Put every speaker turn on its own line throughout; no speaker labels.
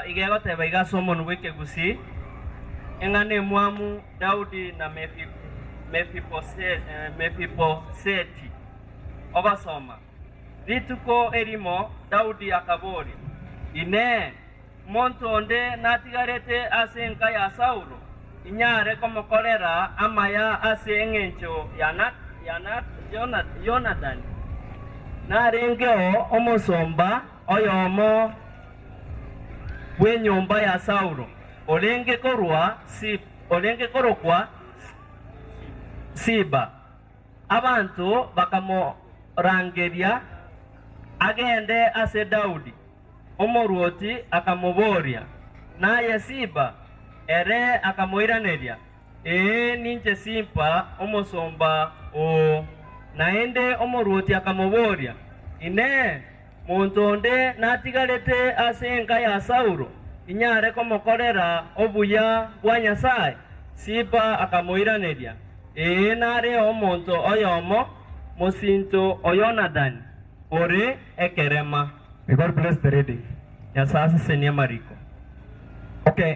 Iga egoteba iga ase omonwa bw'Ekegusii, Eng'ana emwamu, Daudi na Mefiboseti. Ogosoma. Rituko erimo Daudi akabooria, Inee! Monto onde natigarete ase enka ya Saulo, inyare komokorera amaya ase engencho ya Yonatani? Narengeo omosomba. Oyomo bw'enyomba ya Saulo, orenge korwa Siba, orenge korokwa Siba, abanto bakamorangeria agende ase Daudi. Omorwoti akamoboria, Naye Siba? Ere akamoiraneria, Ee, ninche Simpa, omosomba oo. Naende omorwoti akamoboria, Inee! Monto onde natigarete ase enka ya Saulo, inyare komokorera obuya bwa Nyasae? Simpa akamoiraneria, Ee, nareo omonto oyomo, mosinto o Yonadani, ore ekerema. May God bless
the reading. Nyasae asesenie
amariko. Okay.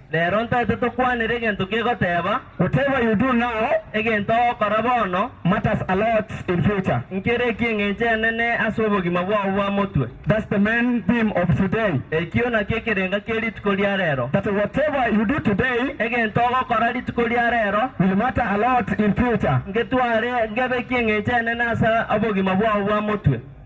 Rero ntaete tokwanere egento kegoteeba. Whatever you do now. Egento ogokora bono. Matters a lot in future. Nkere ekio eng'encho enene ase obogima bwao bwa motwe. That's the main theme of today. Ekio nakio ekerenga kie rituko ria rero. That whatever you do today. Egento ogokora rituko ria rero. Will matter a lot in future. Ngetware, ngebekie eng'encho enene ase obogima bwao bwa motwe.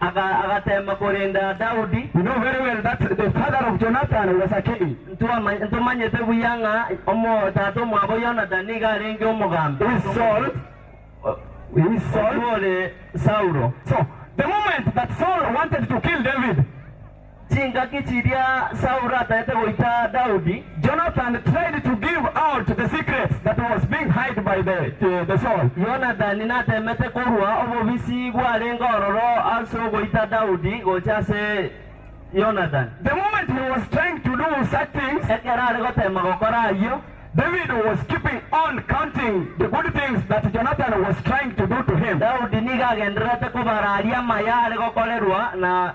agateema korenda Daudi. You know very well that the father of Jonathan was a king. Ntomanyete buya ng'a omo-tata omwabo Yonathan nigo arenge omogambi. He is Saul, he is Saul. Oyio ore Saulo. So, the moment that Saul wanted to kill David. Chingaki chiria Saulo ataete goita Daudi, Jonathan tried to give out the secret that was being hide by the Saul. Yonathani natemete korua obobisi bwarenge ororo ase ogoita Daudi gocha ase Jonathan. The moment he was trying to do such things, ekero are goteema gokora ayio, David was keeping on counting the good things that Jonathan was trying to do to him. Daudi nigo agendererete kobara aria amaya are gokorerwa na.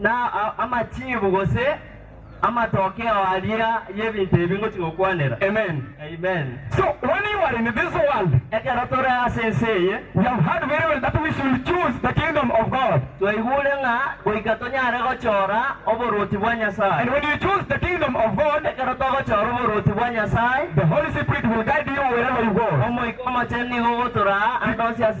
na amachiibu gose
amatokeo aria y'ebinto ebi ngochia gokwanera. Amen. Amen.
So,
when you
are in this world, Ekero tore ase
ense eye, we have heard very
well that we should choose the kingdom of God. twaigure ng'a
goika tonyare gochora oboruoti bwa Nyasae. And when you choose the kingdom
of God, Ekero togochora oboruoti
bwa Nyasae, the Holy Spirit will
guide you wherever you go. Omoika Omochenu nigo
ogotoraa ande onsi ase.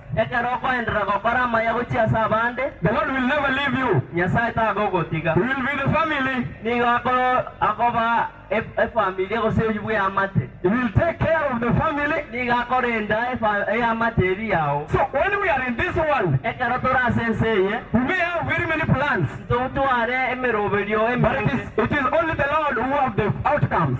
Ekero okoenderera
gokora amaya gochia ase abande. The Lord will never
leave you. Nyasae tagogotiga.
You will be the family.
Nigo ako,
akoba e, efamilia gose oyio bw'eamate. He will take care
of the family. Nigo akorenda
efa, eamate eria yao. So when we are in this
world. Ekero tore ase ense
eye. We may have very
many plans. Ntotware
emeroberio eminge. But it is, it
is only
the Lord
who have the outcomes.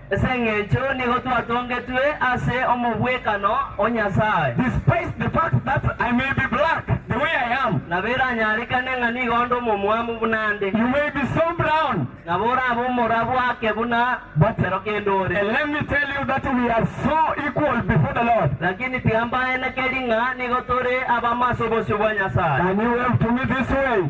Ase engencho nigo
twatongetwe ase omobwekano o Nyasae. Despite the fact
that I may be black the way I am. Nabo eranyarekane
ng'a nigo onde omomwamu buna nde. You may be so
brown. Nabo orabe omorabu
ake buna ekero kende ore. And let me tell you
that we are so equal before the Lord. Lakini tiga mbaenekeri
ng'a nigo tore abamo ase obosio bwa Nyasae. Can you wave to me
this way?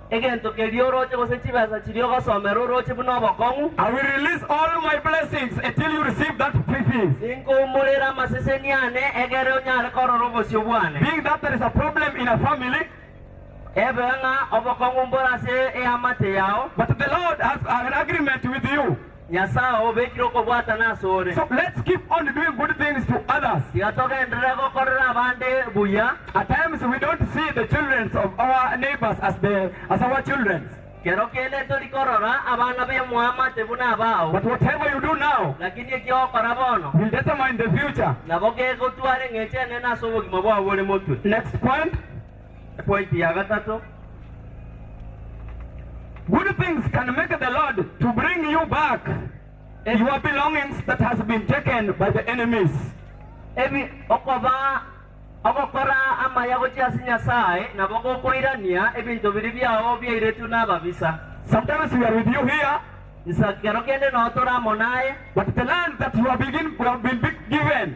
Egento keria oroche gose chibesa chiria ogosomera oroche buna obokong'u. I will release all
my blessings until you receive that free fees. Ninkoumorera
amaseseni ane egere onyare korora obosio bwane. Being that there is a problem
in a family. Ebewe ng'a obokong'u
mbore
ase
eamate
yao. But
the Lord
has
an
agreement
with you. Nyasae obekire okobwatana ase ore. So let's keep on
doing good things to others. Tiga togenderere
gokorera abande buya. At times we don't
see the children of our neighbors as the as our children. Kero kende tori
korora abana b'emwamate buna abao. But whatever you do now.
Lakini eki ogokora
bono. Will determine the
future. Nabo kegotwara
eng'encho enene ase obogima bwao bore motwe. Next point.
Epointi
ya gatato,
Good things can make the Lord to bring you back your belongings that has been taken by the enemies. Ebi
okoba ogokora amaya gochia ase Nyasae nabo gokoirania ebinto biria biao biairetwe nababisa. Sometimes we are with
you here, Nsa kero kende
noo tore amo naye. but the land that
you have begin, you have been be- given,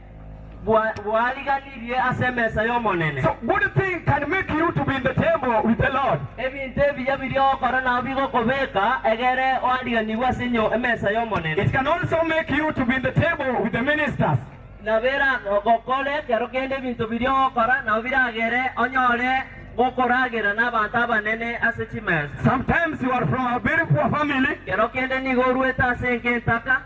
bwariganirie ase emesa y'Omonene.
Ebinto ebiya biria
ogokora nao bigokobeka egere oariganigwe ase emesa y'Omonene.
Na
biragokore ekero kende ebinto biria ogokora nao biragere onyore gokoragera n'abanto abanene ase chimesa.
Ekero kende nigo
orwete ase enka entaka.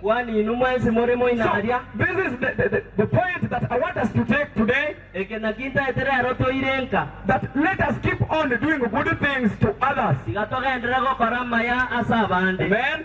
Kwani inwe mwensi
more moina aria?
Eke nakio ntaete
rero toire nka,
tiga togenderere gokora
amaya ase abande.
Amen.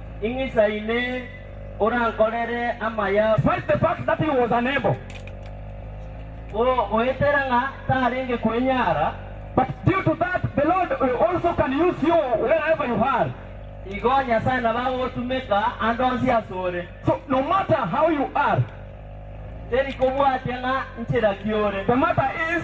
Ing'isaine orankorere amaya. Despite the fact that he
was unable.
Goetera ng'a tarenge kwenyara. But due to
that, the Lord also can use you wherever you are. Igo Nyasae
nabo agotumeka ande onsi asore. So no matter
how you are. Teri
kobwatia ng'a nchera ki ore. The matter is.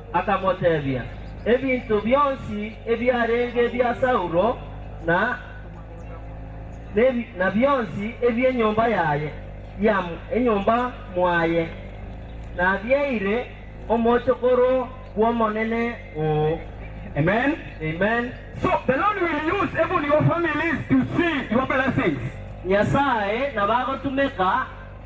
akamoteebia, Ebinto bionsi ebiarenge ebia Saulo na bionsi ebi'enyomba yaye enyomba mwaye nabieire omochokoro bw'Omonene oo. Amen.
Amen.
So the Lord
will use even your families to see your blessings. Nyasae
nabagotumeka.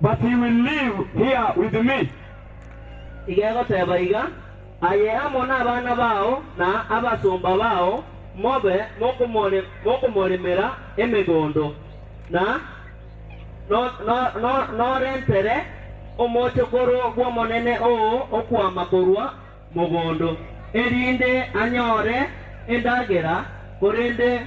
but he will live here with me.
Igegoteba iga, aye amo nabana bao na abasomba bao mobe mokomoremera emegondo, na norentere omochokoro bw'omonene oo okwama korwa mogondo, erinde anyore endagera, korende.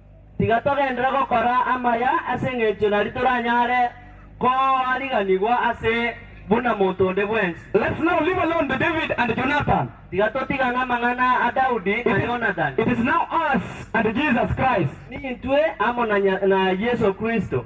Tiga
togenderere gokora amaya ase engencho naria toranyare koariganigwa ase buna monto onde bwensi. Let's now leave alone
the David and Jonathan. Tiga totigane
amang'ana a Daudi na Yonathani. It is now us
and Jesus Christ. Nintwe amo
na Yeso Kristo.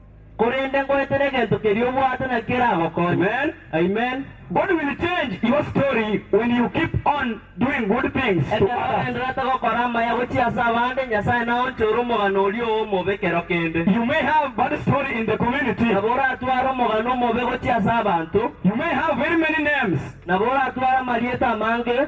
korende
ngoetera egento keria obwate na keragokonye. Amen.
God
will
change your story when you keep on doing good things to Ekero others. ogendererete gokora amaya gochia ase abande, Nyasae naonchore omogano oria oo omobe kero kende. You may have bad story in the community. Nabo oratware omogano omobe gochia ase abanto. You may have very many names. Nabo oratware amarieta amange.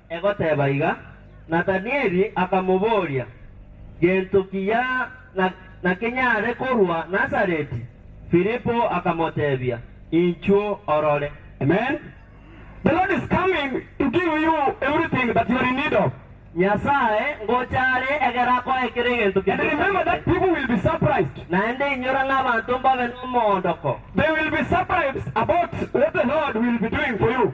Egoteba iga, Nathanieli
akamoboria, Gento ki ya nakenyare korwa Nazareti? Filipo akamotebia, Inchuo orore. Amen.
The Lord is coming to give you everything that you are in need of. Nyasae
ngocha are egere akoe kera egento And keria remember that otagete. people
will be surprised. Naende inyora ng'a
abanto mbabe nomoondoko. They will be
surprised about what the Lord will be doing for you.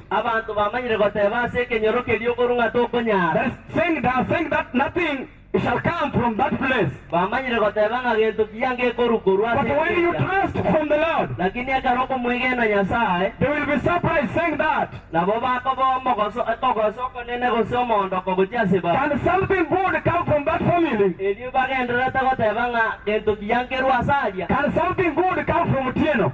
Abanto bamanyire
goteba ase ekenyoro keria okoru ng'a tokonyara. Sing da,
sing that nothing shall come from that place. Bamanyire goteba
ng'a gento kiya ngekorwa korwa ase But when you ekeria. trust
from the Lord, Lakini ekero okomwegena
Nyasae, they will be surprised,
saying that, nabo bakoba
omogoso, ekogoso okonene gose omoondoko gochia ase babu. Can something good
come from that family? Erio bagendererete
goteba ng'a gento kiya nkerwa ase aria. Can something good
come from Otieno?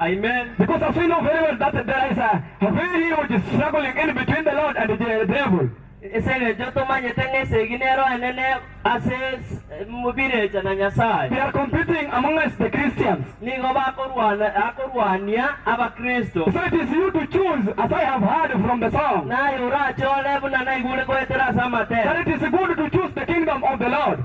Amen.
Because as we know
very well that there is a very huge struggling in between the Lord and the devil. Es'engencho
tomanyete ng'a esegi nero enene ase birecha na Nyasae. They are competing
amongst the Christians. Nigo bakorwana
akorwania abakristo. So it is you to
choose as I have heard from the song. Naye orachore
buna naigure goetera ase amatera. That it is good to
choose the kingdom of the Lord.